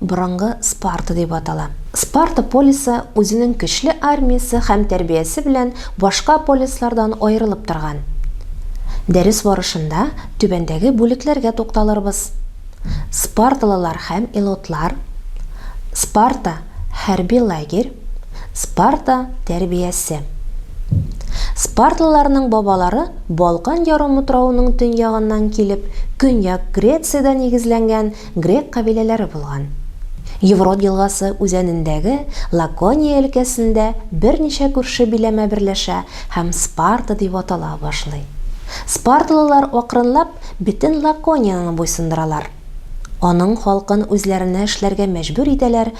Борынгы Спарта дип атала. Спарта полисы үзенең көчле армиясе һәм тәрбиясе белән башка полислардан аерылып торган. Дәрес барышында түбәндәге бүлекләргә тукталырбыз, Спарталылар һәм Илотлар, Спарта, хәрби лагерь, Спарта, тәрбиясе. Спарталыларның бабалары Балкан ярымутравының төньягыннан килеп, Көньяк Грециядә нигезләнгән грек кабиләләре булган. Еврот елгасы үзәнендәге Лакония өлкәсендә берничә күрше биләмә берләшә һәм Спарта дип атала башлый. Спарталылар акрынлап бетен Лаконияне буйсындыралар. Аның халкын үзләренә эшләргә мәҗбүр итәләр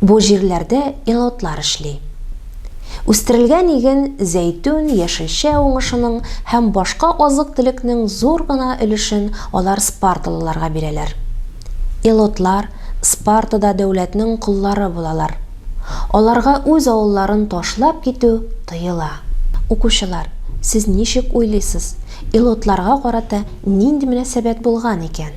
Бу җирләрдә илотлар эшли. Үстерелгән иген, зәйтүн, яшелчә уңышының һәм башка азык-төлекнең зур гына өлешен алар спарталыларга бирәләр. Илотлар Спартада дәүләтнең коллары булалар. Аларга үз авылларын ташлап китү тыела. Укучылар, сез ничек уйлыйсыз, илотларга карата нинди мөнәсәбәт булган икән?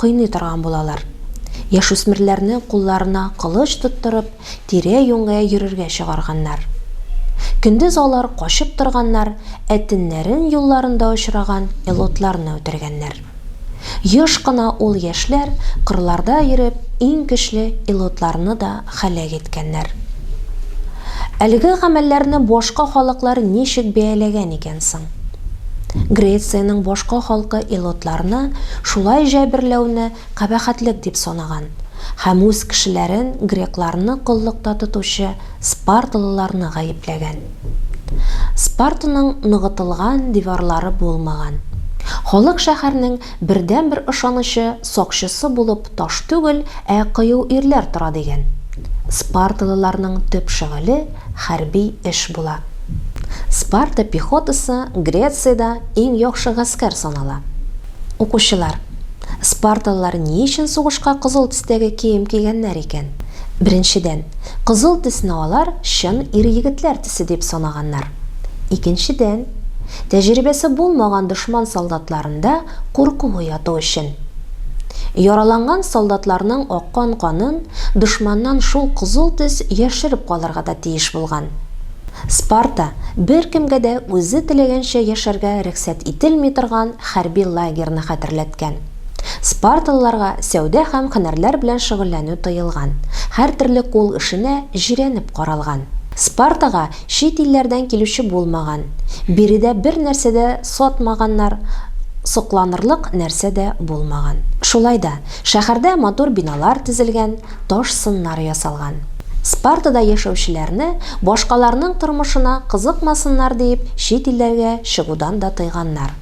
Кыйный торган булалар. Яшүсмерләрне кулларына кылыч тоттырып, тирә-юньгә йөрергә чыгарганнар. Көндез алар качып торганнар, ә төннәрен юлларында очраган элотларны үтергәннәр. Еш кына ул яшьләр кырларда йөреп иң көчле элотларны да һәлак иткәннәр. Әлеге гамәлләрне башка халыклар ничек бәяләгән икән соң? Грециянең башка халкы илотларны шулай җәберләүне кабәхәтлек дип санаган һәм үз кешеләрен грекларны коллыкта тотучы спарталыларны гаепләгән. Спартаның ныгытылган диварлары булмаган. Халык шәһәрнең бердәнбер ышанычы, сакчысы булып таш түгел, ә кыю ирләр тора дигән. Спарталыларның төп шөгыле, хәрби эш була. Спарта пехотасы Грециядә иң яхшы гаскәр санала. Укучылар, спарталылар ни өчен сугышка кызыл төстәге кием кигәннәр икән? Беренчедән, кызыл төсне алар чын ир-егетләр төсе дип санаганнар. Икенчедән, тәҗрибәсе булмаган дошман солдатларында курку уяту өчен. Яраланган солдатларның аккан канын дошманнан шул кызыл төс яшереп калырга да тиеш булган. Спарта, беркемгә дә үзе теләгәнчә яшәргә рөхсәт ителми торган хәрби лагерьны хәтерләткән. Спарталыларга сәүдә һәм һөнәрләр белән шөгыльләнү тыелган, һәртөрле кул эшенә җирәнеп каралган. Спартага Чит илләрдән килүче булмаган, биредә бер нәрсә дә сатмаганнар, сокланырлык нәрсә дә булмаган. Шулай да, шәһәрдә матур биналар төзелгән, таш сыннар ясалган. Спартада яшәүчеләрне башкаларның тормышына кызыкмасыннар диеп чит илләргә чыгудан да тыйганнар.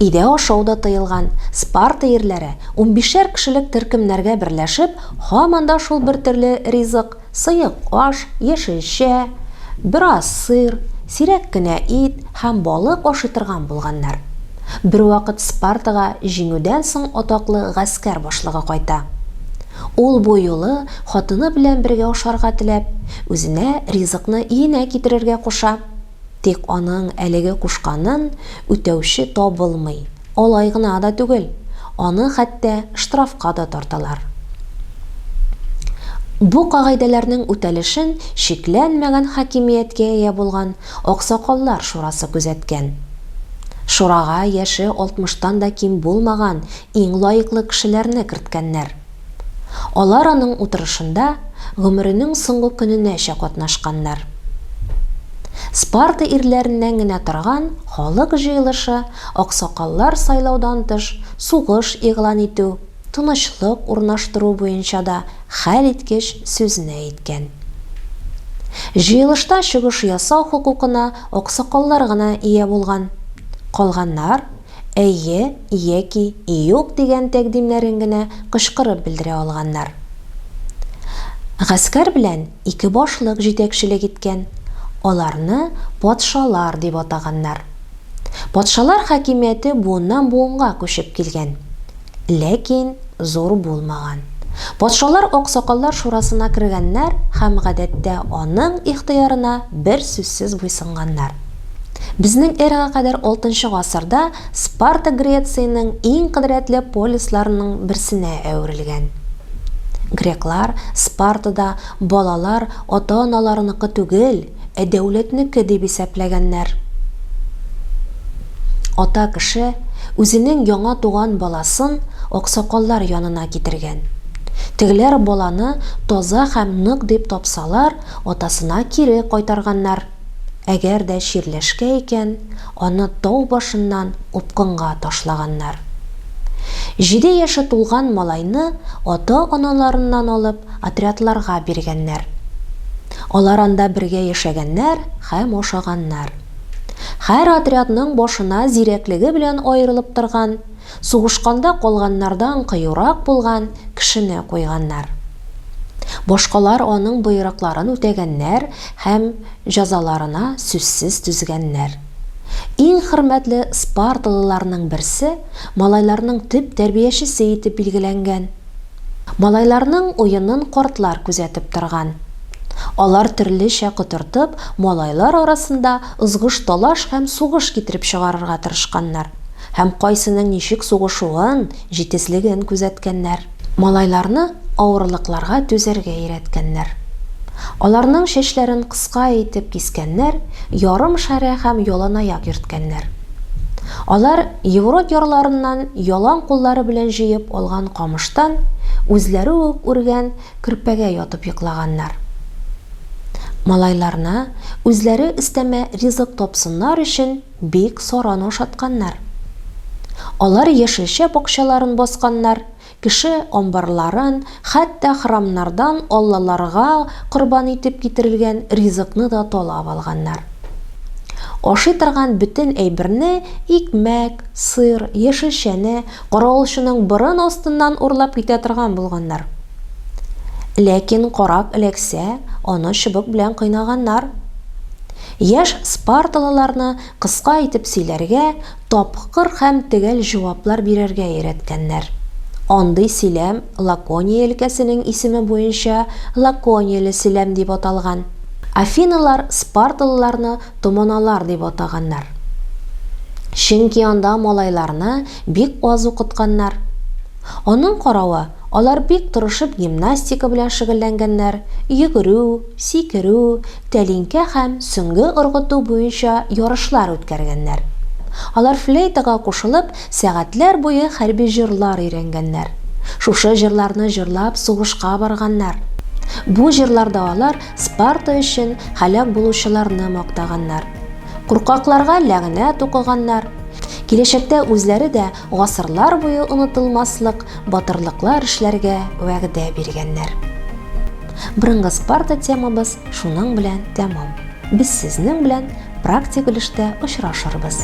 Өйдә ашау да тыелган, Спарта ирләре унбишәр кешелек төркемнәргә берләшеп, һаман да шул бертөрле ризык, Сыек аш, яшелчә, бераз сыр, сирәк кенә ит һәм балык ашый торган булганнар. Бервакыт Спартага җиңүдән соң атаклы гаскәр башлыгы кайта. Ул бу юлы хатыны белән бергә ашарга теләп, үзенә ризыкны өенә китерергә куша. Тик аның әлеге кушканын үтәүче табылмый. Алай гына да түгел, аны хәтта штрафка да тарталар. Бу кагыйдәләрнең үтәлешен чикләнмәгән хакимияткә ия булган Аксакаллар шурасы күзәткән. Шурага яше алтмыштан да ким булмаган иң лаеклы кешеләрне керткәннәр. Алар аның утырышында гомеренең соңгы көненәчә катнашканнар. Спарта ирләреннән генә торган халык җыелышы аксакаллар сайлаудан тыш сугыш игълан итү, тынычлык урнаштыру буенча да хәлиткеч сүзне әйткән. Җыелышта чыгыш ясау хокукына аксакаллар гына ия булган, калганнар, Әйе яки юк дигән тәкъдимнәрен генә кычкырып белдерә алганнар. Гаскәр белән ике башлык җитәкчелек иткән, аларны патшалар дип атаганнар. Патшалар хакимияте буыннан-буынга күчеп килгән. Ләкин зур булмаган. Патшалар аксакаллар шурасына кергәннәр һәм гадәттә аның ихтыярына бер сүзсез буйсынганнар. Безнең эрага кадәр алтынчы гасырда Спарта Грециянең иң кодрәтле полисларының берсенә әверелгән. Греклар Спартада балалар ата-аналарыныкы түгел, ә дәүләтнеке дип исәпләгәннәр. Ата кеше үзенең яңа туган баласын аксакаллар янына китергән. Тегеләр баланы таза һәм нык дип тапсалар, атасына кире кайтарганнар. Әгәр дә чирләшкә икән, аны тау башыннан упкынга ташлаганнар. Җиде яше тулган малайны ата-аналарыннан алып, отрядларга биргәннәр. Алар анда бергә яшәгәннәр һәм ашаганнар. Һәр отрядның башына зирәклеге белән аерылып торган, сугышканда калганнардан кыюрак булган кешене куйганнар. Башкалар аның боерыкларын үтәгәннәр һәм җәзаларына сүзсез түзгәннәр. Иң хөрмәтле спарталыларның берсе малайларның төп тәрбиячесе итеп билгеләнгән. Малайларның уенын картлар күзәтеп торган. Алар төрлечә котыртып, малайлар арасында ызгыш-талаш һәм сугыш китереп чыгарырга тырышканнар һәм кайсының ничек сугышуын, җитезлеген күзәткәннәр. Малайларны авырлыкларга түзәргә өйрәткәннәр. Аларның чәчләрен кыска итеп кискәннәр, ярым шәрә һәм яланаяк йөрткәннәр. Алар Еврот ярларыннан ялан куллары белән җыеп алган камыштан үзләре үк үргән көрпәгә ятып йоклаганнар. Малайларына үзләре өстәмә ризык тапсыннар өчен бик саран ашатканнар. Алар яшелчә бакчаларын басканнар, Кеше амбарларын, хәтта храмнардан аллаларга корбан итеп китерелгән ризыкны да талап алганнар. Ашый торган бөтен әйберне, икмәк, сыр, яшелчәне, каравылчының борын астыннан урлап китә торган булганнар. Ләкин карак эләксә, аны чыбык белән кыйнаганнар. Яшь спарталыларны Кыска итеп сөйләргә, тапкыр һәм төгәл җаваплар бирергә өйрәткәннәр. Андый сөйләм Лакония өлкәсенең исеме буенча Лаконияле сөйләм дип аталган. Афиналар спарталыларны томаналар дип атаганнар. Чөнки анда малайларны бик аз укытканнар. Аның каравы, Алар бик тырышып гимнастика белән шөгыльләнгәннәр, йөгерү, сикерү, тәлинкә һәм сөңге ыргыту буенча ярышлар үткәргәннәр. Алар флейтага кушылып, сәгатьләр буе хәрби җырлар өйрәнгәннәр. Шушы җырларны җырлап сугышка барганнар. Бу җырларда алар Спарта өчен һәлак булучыларны мактаганнар. Куркакларга ләгънәт укыганнар. Киләчәктә үзләре дә Гасырлар буе онытылмаслык батырлыклар эшләргә вәгъдә биргәннәр. Борынгы Спарта темабыз шуның белән тәмам. Без сезнең белән практик өлештә очрашырбыз.